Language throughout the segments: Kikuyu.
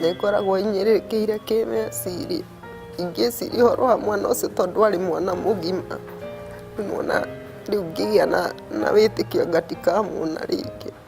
nĩ ngoragwo inyĩrĩkĩire kĩmeciria ingĩciria ũhoro wa mwana ũcio tondũ arĩ mwana mũgima nĩ wona rĩu ngĩgĩa na wĩtĩkio ngatikamũona rĩngĩ.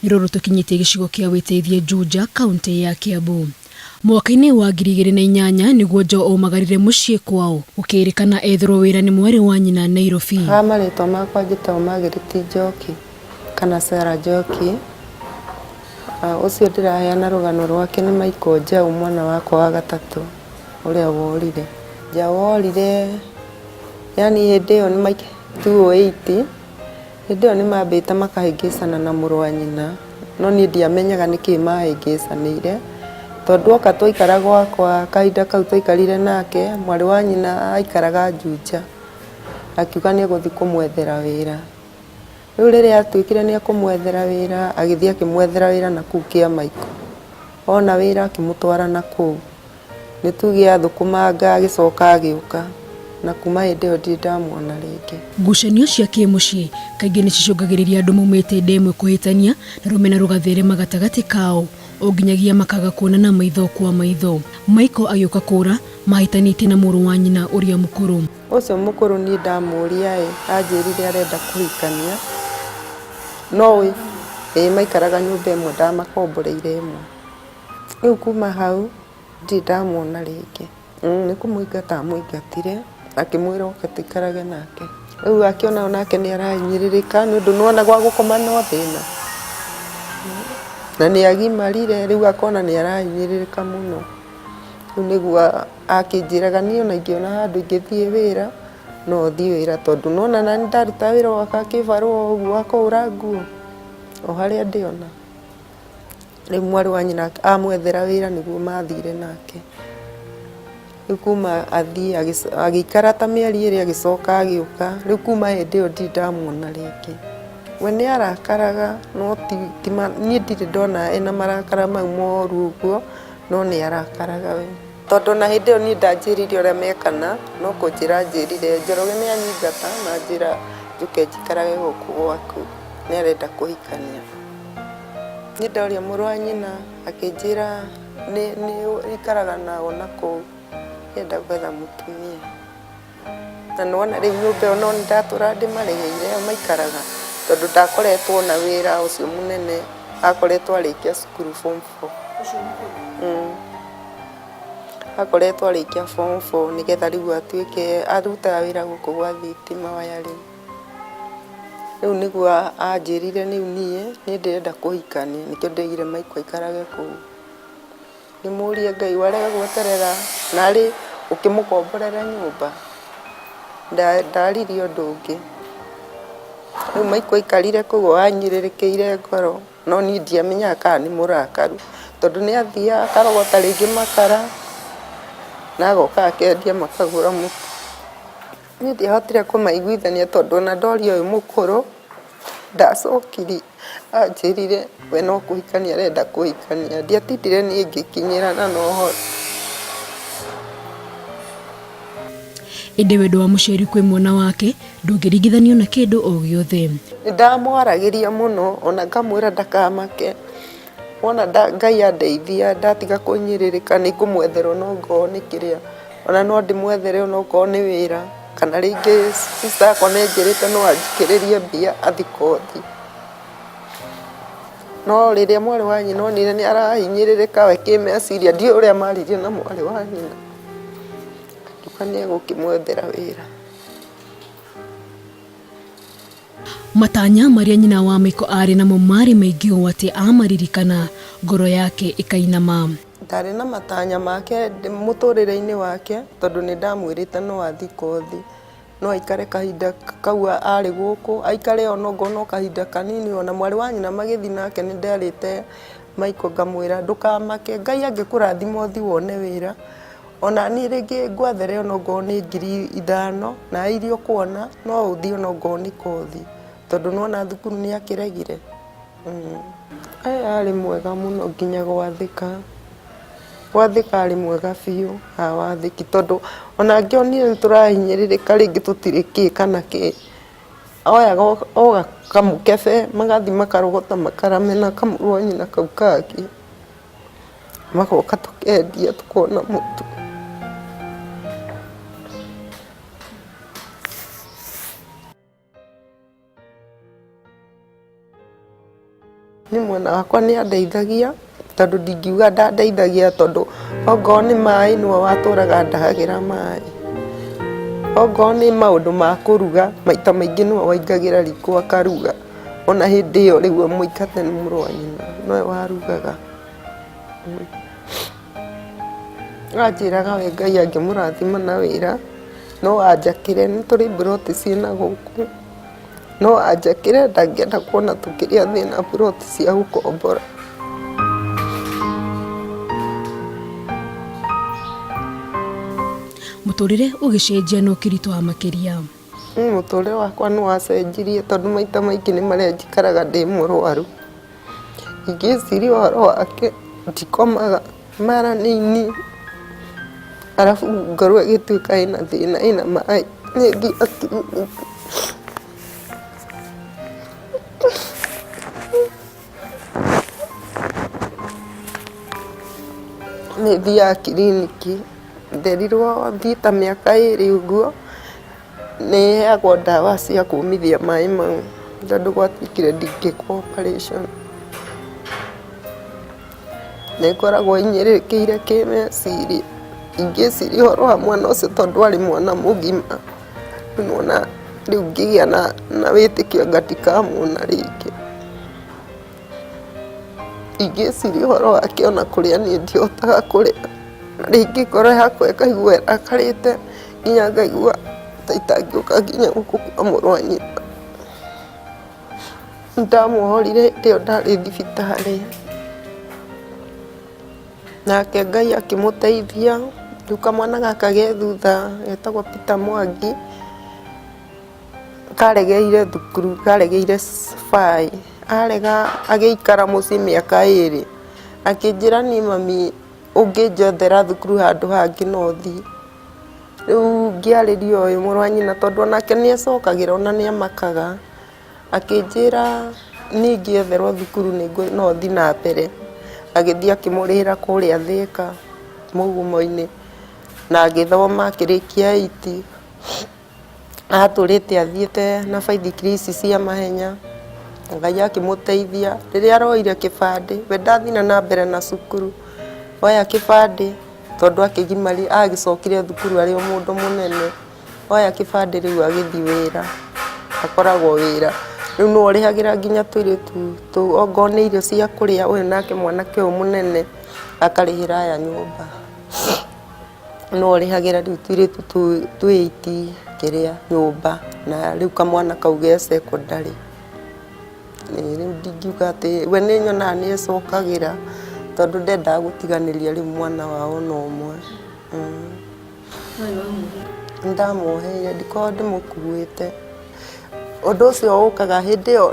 Nĩ rũrũ tũkinyĩtie gĩcigo kĩa Wĩteithie Juja, kauntĩ ya Kiambu. Mwaka-inĩ wa ngiri igĩrĩ na inyanya nĩguo Joe omagarire mũciĩ kwao, gũkĩrĩkana ethirwo wĩra nĩ mwarĩ wa nyina Nairobi. Haha marĩtwa makwa njĩtagwo Margaret Njoki kana Sarah Njoki. Ũcio ndĩraheana rũgano rwake nĩ Michael Njau mwana wakwa wa gatatũ ũrĩa worire. Njau orire yaani hĩndĩ ĩyo nĩ two eight. Hĩndĩ ĩyo nĩmambĩte makahĩngĩcana na mũrũ wa nyina, no niĩ ndiamenyaga nĩkĩ maahĩngĩcanĩire, tondũ oka twaikara gwakwa, kahinda kau twaikarire nake, mwarĩ wa nyina aikaraga Juja, akiuga nĩegũthiĩ kũmwethera wĩra. Rĩu rĩrĩa atuĩkire nĩekũmwethera wĩra, agĩthiĩ akĩmwethera wĩra nakũu Kĩamaiko, ona wĩra akĩmũtwara nakũu. Nĩ tuge athũkũmanga agĩcoka agĩũka, na kuuma hĩndĩ ĩyo ndirĩ ndamuona rĩngĩ. Ngucanio cia kĩmũciĩ kaingĩ nĩ cicũngagĩrĩria andũ maumĩte nda ĩmwe kũhĩtania na rũmena rũgatherema gatagatĩ kao o nginyagia makaga kuonana maitho kwa maitho. Michael agĩũka kũũra mahĩtanĩtie na mũrũ wa nyina ũrĩa mũkũrũ. Ũcio mũkũrũ niĩ ndamũũria-ĩ, anjĩrire arenda kũhikania. No ũĩ, ĩĩ maikaraga nyũmba ĩmwe ndamakomboreire ĩmwe. Rĩu kuma hau ndirĩ ndamuona rĩngĩ. Nĩ kũmũingata amũingatire akĩmwĩra oke tũikarage nake. Rĩu akĩona onake nĩ arahinyĩrĩrĩka nĩ ũndũ nĩ wona gwa gũkoma no thĩna. Na nĩ agimarire rĩu akona nĩ arahinyĩrĩrĩka mũno. Rĩu nĩguo akĩnjĩraga niĩ ona ingĩona handũ ingĩthiĩ wĩra no thiĩ wĩra tondũ nĩ wona naniĩ ndaruta wĩra o gaka kĩbarũa ũguo wa kũhũra nguo o harĩa ndĩ ona. rĩu mwarĩ wa nyina amwethera wĩra nĩguo mathire nake rĩu kuma athiĩ agĩikara ta mĩeri ĩrĩ agĩcoka agĩũka rĩu kuma hĩndĩ ĩyo ndirĩ ndamuona rĩngĩ we nĩ arakaraga no niĩ ndirĩ ndona ena marakara mau moru ũguo no nĩ arakaraga we tondũ ona hĩndĩ ĩyo niĩ ndanjĩrire ũrĩa mekana no kũnjĩra anjĩrire Njoroge nĩ anyingata na anjĩra njũke njikarage gũkũ gwaku nĩ arenda kũhikania. Niĩ ndoria mũrũ wa nyina akĩnjĩra nĩ nĩ ũikaraga nao na kũu akĩenda gwetha mũtumia. Na nĩ wona rĩu nyũmba ĩyo nĩ ndatũra ndĩmarĩhĩire yo maikaraga tondũ ndakoretwo na wĩra ũcio mũnene akoretwo arĩkia cukuru form four. Akoretwo arĩkia form four nĩgetha rĩu atuĩke arutaga wĩra gũkũ gwa thitima wiring. Rĩu nĩguo anjĩrire rĩu niĩ nĩ ndĩrenda kũhikania nĩkĩo ndeigire Maiko aikarage kũu. Ngĩmũria Ngai warega gweterera narĩ ũkĩmũkomborera nyũmba? Ndaririe ũndũ ũngĩ. Rĩu Maiko aikarire kũu o anyirĩrĩkĩire ngoro no niĩ ndiamenyaga kana nĩ mũrakaru tondũ nĩ athiaga akarogota rĩngĩ makara na agoka akendia makagũra mũtu. Niĩ ndiahotire kũmaiguithania tondũ ona ndoria ũyũ mũkũrũ ndacokire anjĩrire we no kũhikania arenda kũhikania. Ndiatindire niĩ ngĩkinyĩra na no hore. Ĩndĩ wendo wa mũciari kwĩ mwana wake ndũngĩringithanio na kĩndũ o gĩothe. Nĩ ndamwaragĩria mũno ona ngamwĩra ndakamake. Wona Ngai andeithia ndatiga kũhinyĩrĩrĩka nĩ ngũmwethera ona okorwo nĩ kĩrĩa, ona no ndĩmwethere ona okorwo nĩ wĩra kana rĩngĩ sister yakwa nĩ anjĩrĩte no anjĩkĩrĩrie mbia athiĩ kothi. No rĩrĩa mwarĩ wa nyina onire nĩ arahinyĩrĩrĩka we kĩmeciria ndiũĩ ũrĩa maririe na mwarĩ wa nyina akiuga nĩ egũkĩmwethera wĩra. Matanya marĩa nyina wa Michael aarĩ namo maarĩ maingĩ ũũ atĩ aamaririkana, ngoro yake ĩkainama. Ndaarĩ na matanya make mũtũũrĩre-inĩ wake tondũ nĩ ndamwĩrĩte no athiĩ kothi. No aikare kahinda kau aarĩ gũkũ, aikare o na okorwo no kahinda kanini. O na mwarĩ wa nyina magĩthiĩ nake nĩ nderĩte Michael ngamwĩra, ndũkamake, Ngai angĩkũrathima ũthiĩ wone wĩra. Ona niĩ rĩngĩ ngwethere ona okorwo nĩ ngiri ithano na iria ũkuona no ũthiĩ ona okorwo nĩ kothi tondũ nĩ wona thukuru nĩ akĩregire. Ee arĩ mwega mũno nginya gwathĩka, gwathĩka arĩ mwega biũ ha wathĩki tondũ ona angĩonire nĩ tũrahinyĩrĩrĩka rĩngĩ tũtirĩ kĩ kana kĩ, oyaga o kamũkebe magathiĩ makarogota makara mena kamũrũa nyina kau kangĩ. magoka tũkendia tũkona mũtu nĩ mwena wakwa nĩ andeithagia tondũ ndingiuga ndandeithagia tondũ ongoo nĩ maĩ nĩwe watũraga ndahagĩra maĩ ongoo nĩ maũndũ ma kũruga maita maingĩ nĩwe waingagĩra riko akaruga. Ona hĩndĩ ĩyo rĩu mũikate nĩ mũrũ wa nyina nowe warugaga anjĩraga we Ngai angĩmũrathima na wĩra no anjakĩre nĩ tũrĩ mburoti ciĩ na gũkũ no anjakĩre ndangĩenda kuona tũkĩrĩa thĩna mburoti cia gũkombora. Mũtũrĩre ũgĩcenjia na ũkĩritũha makĩria. Niĩ mũtũrĩre wakwa nĩ wacenjirie tondũ maita maingĩ nĩ marĩa njikaraga ndĩ mũrwaru. Ingĩciria ũhoro wake ndikomaga mara nĩ niĩ arabu ngorwo ĩgĩtuĩka ĩna thĩna ĩna maĩ nĩ thiaga kiriniki. Nĩ thiaga kiriniki, nderirwo thiĩ ta mĩaka ĩrĩ ũguo, nĩ heagwo ndawa cia kũmithia maĩ mau tondũ gwatuĩkire ndingĩka operation. Nĩ ngoragwo hinyĩrĩrĩkĩire kĩmeciria, ingĩciria ũhoro wa mwana ũcio tondũ arĩ mwana mũgima. nĩwona rĩu ngĩgĩa na na wĩtĩkio ngatikamwona rĩngĩ. Ingĩciria ũhoro wake ona kũrĩa niĩ ndihotaga kũrĩa, na rĩngĩ ngoro yakwa ĩkaigua ĩrakarĩte nginya ngaigua ta itangĩũka nginya gũkũ kwa mũrũ wa nyina. Nĩndamũhorire hĩndĩ ĩyo ndarĩ thibitarĩ. Nake Ngai akĩmũteithia, rĩu kamwana gaka ge thutha getagwo Peter Mwangi, karegeire thukuru, karegeire cibaa-ĩ, arega agĩikara mũciĩ mĩaka ĩrĩ, akĩnjĩra niĩ mami ũngĩnjethera thukuru handũ hangĩ no thiĩ. Rĩu ngĩarĩria ũyũ mũrũ wa nyina tondũ onake nĩacokagĩra ona nĩamakaga. Akĩnjĩra niĩ ingĩetherwo thukuru no thiĩ na mbere. Agĩthiĩ akĩmũrĩhĩra kũrĩa Thĩka mũgumo-inĩ na agĩthoma akĩrĩkia eight. Atũrĩte athiĩte na baithikiri ici cia mahenya, Ngai akĩmũteithia. Rĩrĩa aroire kĩbandĩ, we ndathire na mbere na cukuru, oya kĩbandĩ tondũ agĩcokire thukuru arĩ o mũndũ mũnene. Oya kĩbandĩ rĩu agĩthiĩ wĩra, akoragwo wĩra. Rĩu nĩwe ũrĩhagĩra nginya tũirĩtu tũu, ongorũo nĩ irio cia kũrĩa, ũyũ nake mwanake ũyũ mũnene akarĩhĩra aya nyũmba. Nĩwe ũrĩhagĩra rĩu tũirĩtu tũu twĩ eight kĩrĩa, nyũmba, na rĩu kamwana kau ge secondary. Ĩĩ rĩu ndingiuga atĩ, we nĩnyonaga nĩecokagĩra, tondũ ndendaga gũtiganĩria rĩu mwana wao ona ũmwe. ndamuoheire ndikoragwo ndĩmũkuĩte ũndũ ũcio ũkaga hĩndĩ ĩyo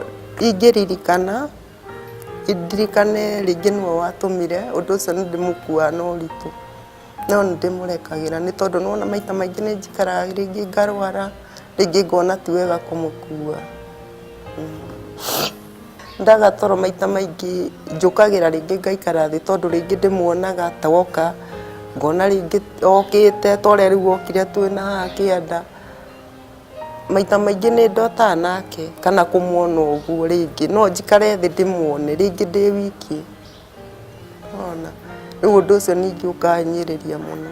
ingĩririkana ndirikane rĩngĩ nĩwe watũmire ũndũ ũcio nĩ ndĩmũkuaga na ũritũ no nĩ ndĩmũrekagĩra nĩ tondũ nĩ wona maita maingĩ nĩ njikaraga rĩngĩ ngarwara rĩngĩ ngona ti wega kũmũkua. Ndaga toro maita maingĩ njũkagĩra rĩngĩ ngaikara thĩ tondũ rĩngĩ ndĩmuonaga ta woka ngona rĩngĩ okĩte ta ũrĩa rĩu wokire twĩ na haha kĩanda. Maita maingĩ nĩ ndotaga nake kana kũmuona ũguo rĩngĩ. No njikare thĩ ndĩmuone rĩngĩ ndĩ wiki. Nĩ wona? Rĩu ũndũ ũcio ningĩ ũkahinyĩrĩria mũno.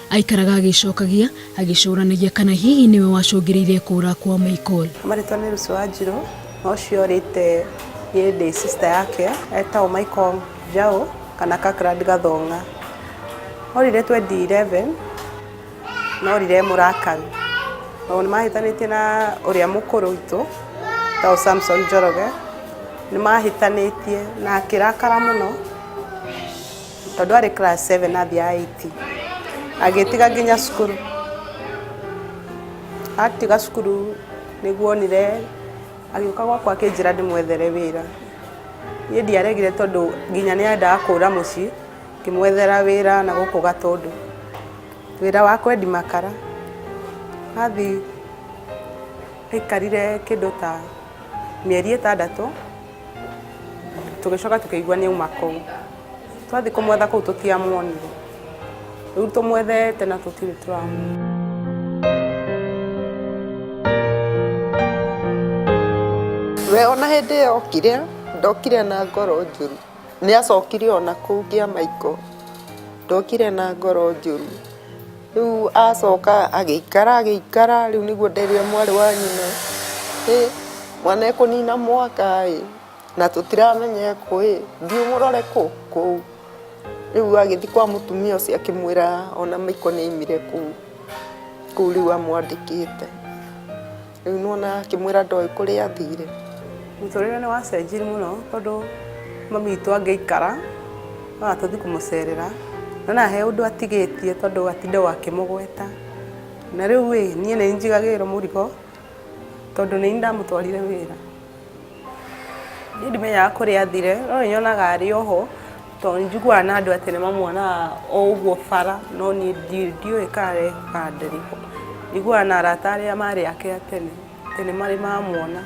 Aikaraga agĩcokagia, agĩcũranagia kana hihi nĩwe wacũngĩrĩire kũũra kwa Michael. Marĩtwa nĩ Lucy Wanjirũ, na ũcio ũrĩte niĩ ndĩ sister yake, etagwo Michael Njaũ kana Kirkland Gathonga. Orire twendi eleven, na orire e mũrakaru. Tondũ nĩ mahĩtanĩtie na ũrĩa mũkũrũ witũ, etagwo Samson Njoroge, nĩ mahĩtanĩtie na akĩrakara mũno. tondũ arĩ class 7 athiaga 8 agĩtiga nginya cukuru atiga cukuru nĩguo onire agĩũka gwakwa akĩnjĩra ndĩmwethere wĩra niĩ ndiaregire tondũ nginya nĩ endaga kũra mũciĩ ngĩmwethera wĩra na gũkũ gatũndũ wĩra wa kwendi makara athi aikarire kĩndũ ta mĩeri ĩtandatũ tũgĩcoka tũkĩigua nĩ auma kũu twathiĩ kũmwetha kũu tũtiamuonire rĩu tũmwethete na tũtirĩ tũramuona we ona hĩndĩ ĩyo okire ndokire na ngoro njũru nĩ acokire ona kũu ngĩa maiko ndokire na ngoro njũru Rĩu acoka agĩikara agĩikara, rĩu nĩguo nderia mwarĩ wa nyina, hĩ mwana ekũnina mwaka ĩ, na tũtiramenya ekũ ĩ, thiĩ ũmũrore kũ? kũu. Rĩu agĩthiĩ kwa mũtumia ũcio akĩmwĩra ona Michael nĩ aimire kũu, kũu rĩu amwandĩkĩte. Rĩu nĩwona akĩmwĩra ndoĩ kũrĩa athire. Mũtũrĩre nĩ wacenjiri mũno tondũ mami witũ angĩikara no atũthi kũmũcerera nĩwona he ũndũ atigĩtie tondũ atindaga akĩmũgweta na rĩu ĩ niĩ nĩ njigagĩrĩrwo mũrigo tondũ nĩ niĩ ndamũtwarire wĩra. Niĩ ndimenyaga kũrĩa athire, no nĩ nyonaga arĩ o ho, to nĩ njiguaga na andũ atĩ nĩ mamuonaga o ũguo bara, no niĩ ndiũĩ kana arĩ ho kana ndarĩ ho. Njiguaga na arata arĩa marĩ ake a tene, atĩ nĩ marĩ mamuona.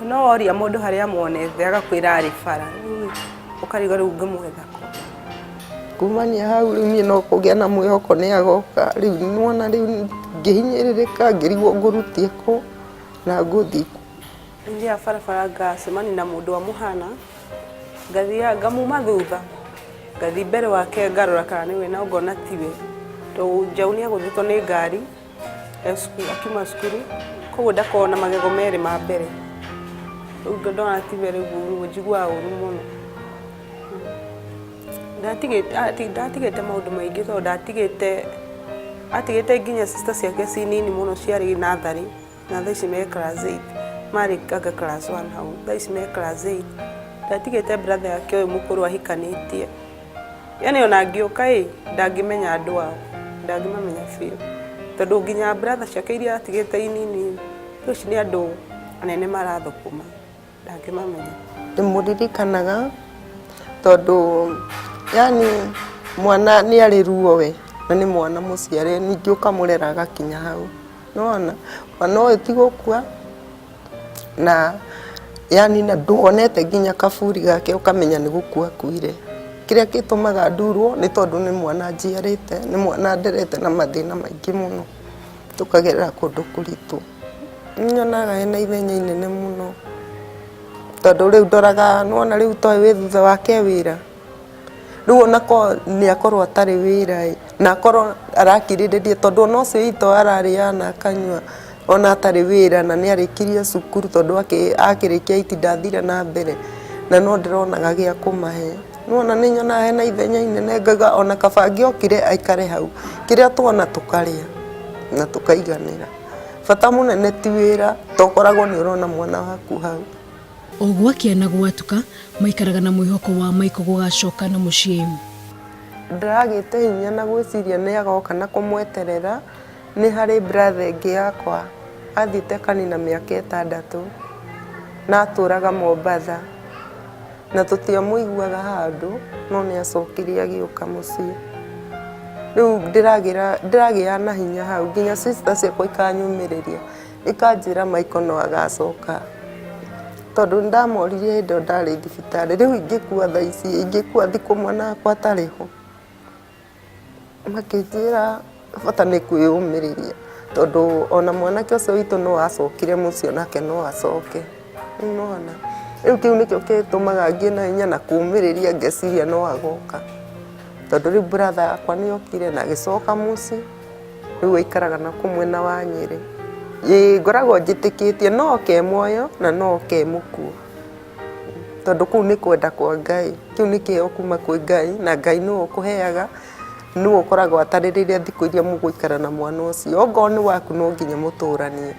No woria mũndũ harĩa amuonete agakwĩra arĩ bara, rĩu ũkarigwo rĩu ũngĩmwetha kũ. Kumania hau rĩu niĩ no kũgĩa na mwĩhoko nĩ agoka, rĩu nĩ wona rĩu ngĩhinyĩrĩrĩka ngĩrigwo ngũrũtia kũ. na ngũthi Ndia barabara ngacemani na mũndũ amũhana ngathiaga ngamuma thutha ngathi mbere wake ngarora kana nĩwe no ngona tiwe tondũ njaũ nĩ agũthĩtwo nĩ ngari e cukuru- akiuma cukuru koguo ndakoragwo na magego merĩ ma mbere rĩu ndona tiwe rĩu njiguaga ũru mũno ndatigĩte ati- ndatigĩte maũndũ maingĩ tondũ ndatigĩte atigĩte nginya sister ciake ci nini mũno ciarĩ natharĩ na thaa ici me class 8 marĩ anga class 1 hau thaa ici me class 8 ndatigĩte brother yake ũyũ mũkũrũ ahikanĩtie yani ona ngĩũka ĩ ndangĩmenya andũ ao ndangĩmamenya biũ tondũ nginya brother ciake iria atigĩte inini rĩu ici nĩ andũ anene marathũkũma ndangĩmamenya ndĩmũririkanaga tondũ yani mwana nĩ arĩ ruo we na nĩ mwana mũciare ningĩ ũkamũrera agakinya hau nĩwona mwana ũyũ ti gũkua na yani na ndwonete nginya kaburi gake ũkamenya nĩ gũkua akuire kĩrĩa gĩtũmaga ndurwo nĩ tondũ nĩ mwana njiarĩte nĩ mwana nderete na mathĩna maingĩ mũno. tũkagerera kũndũ kũritũ. Nĩ nyonaga ena ithenya inene mũno tondũ rĩu ndoraga nĩ wona rĩu toyũ wĩ thutha wake e wĩra, rĩu ona korwo nĩ akorwo atarĩ wĩra ĩ, na akorwo arakirĩrĩria tondũ ona ũcio witũ ararĩaga na akanyua ona atarĩ wĩra na nĩ arĩkirie cukuru tondũ akĩrĩkia eight ndathire na mbere na no ndĩronaga gĩa kũmahe. Nĩwona nĩ nyonaga hena ithenya inene ngauga ona kaba angĩokire aikare hau kĩrĩa twona tũkarĩa na tũkaiganĩra. Bata mũnene ti wĩra to ũkoragwo nĩ ũrona mwana waku hau. O gwakĩa na gwatuka maikaraga na mwĩhoko wa Maiko gũgacoka na mũciĩ. Ndaragĩte hinya na gwĩciria nĩ agoka na kũmweterera. Nĩ harĩ brother ĩngĩ yakwa athite kanina mĩaka ĩtandatũ na atũraga Mombatha na tũtiamũiguaga handũ no nĩ acokire agĩũka mũciĩ. Rĩu ndĩragĩa na hinya hau nginya sister ciakwa ikanyũmĩrĩria ikanjĩra Michael no agacoka. Tondũ nĩ ndamoririe hĩndĩ ĩyo ndarĩ thibitarĩ rĩu ingĩkua thaa ici, ingĩkua thikũ mwana wakwa atarĩ ho. Makĩnjĩra bata nĩ kwĩyũmĩrĩria tondũ ona mwanake ũcio witũ no acokire mũciĩ onake no acoke. Nĩwona? Rĩu kĩu nĩkĩo gĩtũmaga ngĩe na hinya na kũmĩrĩria ngeciria no agoka. Tondũ rĩu brother yakwa nĩ okire na agĩcoka mũciĩ, rĩu aikaraga na kũu mwena wa Nyĩrĩ. Ĩĩ ngoragwo njĩtĩkĩtie no oke e muoyo na no oke e mũkuũ. tondũ kũu nĩ kwenda kwa Ngai, kĩu nĩ kĩheo kuma kwĩ Ngai, na Ngai nĩwe ũkũheaga, nĩwe ũkoragwo atarĩrĩire thikũ iria mũgũikara na mwana ũcio. Ongorũo nĩ waku no nginya mũtũranie.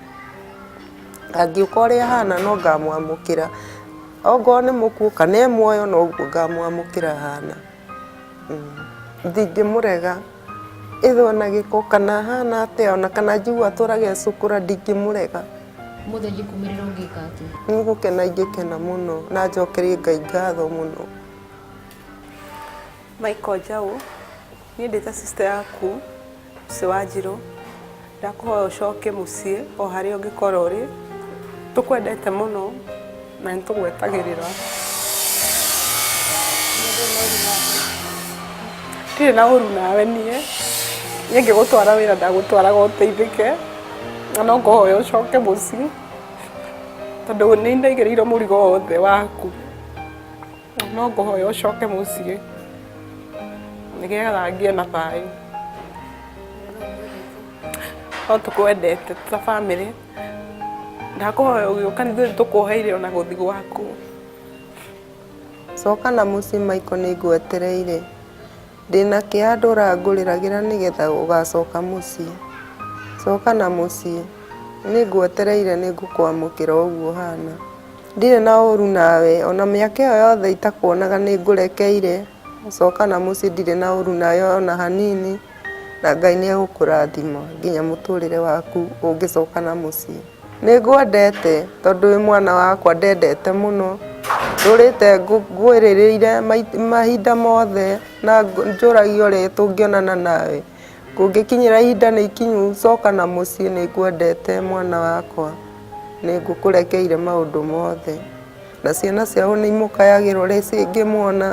Angĩũka ũrĩa ahana no ngamwamũkĩra, ongorũo nĩ mũkuũ kana e muoyo noguo ngamwamũkĩra ahana. Ndingĩmũrega, either ona gĩko, kana ahana atĩa, ona kana njiguaga atũraga e cũkũra ndingĩmũrega. Mũthĩ ingĩkumĩrĩra ũngĩka atĩ. Nĩ gũkena ingĩkena mũno na njokerie Ngai ngatho mũno. Michael Njaũ, niĩ ndĩ ta sister yaku Lucy Wanjirũ, ndakũhoya ũcoke mũciĩ o harĩa ũngĩkorwo ũrĩ, tũkwendete mũno. na nĩ tũgwetagĩrĩra ndirĩ na ũru nawe niĩ niĩ ngĩgũtwara wĩra ndagũtwaraga ũteithĩke na no ngũhoya ũcoke mũciĩ tondũ nĩ ndaigĩrĩirwo mũrigo wothe waku na no ngũhoya ũcoke mũciĩ nĩgetha ngĩe na thayũ no tũkwendete ta bamĩrĩ ndakũhoya ũgĩũka nithuĩ nĩtũkuoheire ona gũthi gwaku coka na mũciĩ maiko nĩngwetereire ndĩna kĩhandũ ũrangũrĩragĩra nĩgetha ũgacoka mũciĩ coka na mũciĩ nĩngwetereire nĩngũkwamũkĩra ũguo ũhana ndirĩ na ũru nawe ona mĩaka ĩyo yothe itakuonaga nĩngũrekeire coka na mũciĩ ndirĩ na ũru nawe ona hanini Na Ngai nĩ egũkũrathima nginya mũtũrĩre waku ũngĩcoka na mũciĩ. Nĩ ngwendete tondũ wĩ mwana wakwa ndendete mũno, ndũrĩte ngwĩrĩrĩire mahinda mothe na njũragia ũrĩa tũngĩonana nawe. Kũngĩkinyĩra ihinda nĩ ikinyu coka na mũciĩ nĩ ngwendete mwana wakwa. Nĩ ngũkũrekeire maũndũ mothe. Na ciana ciao nĩ imũkayagĩrwo rĩ cingĩmuona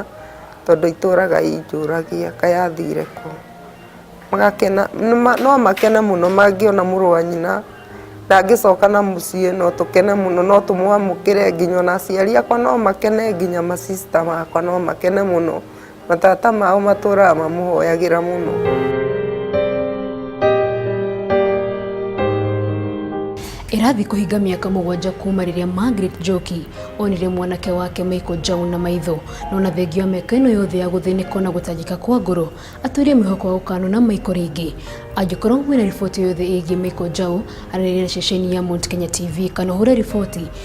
tondũ itũraga injũragia kaĩ athire kũ. Magakena, no makene mũno mangĩona mũrũ wa nyina na angĩcoka na mũciĩ no tũkene mũno, no tũmwamũkĩre nginya ona aciari akwa no makene nginya ma sister makwa no makene mũno. Matata mao matũũraga mamũhoyagĩra mũno. Ĩrathiĩ kũhinga mĩaka mũgwanja kuuma rĩrĩa Margaret Njoki onire mwanake wake Michael Njaũ na maitho no na thengia wa mĩaka ĩno yothe ya gũthĩnĩka na gũtangĩka kwa ngoro atũire mwĩhoko wa gũkanona Michael rĩngĩ. Angĩkorwo wĩna riboti o yothe ĩgiĩ Michael Njaũ aranĩria na ceceni ya Mount Kenya TV kana ũhũre riboti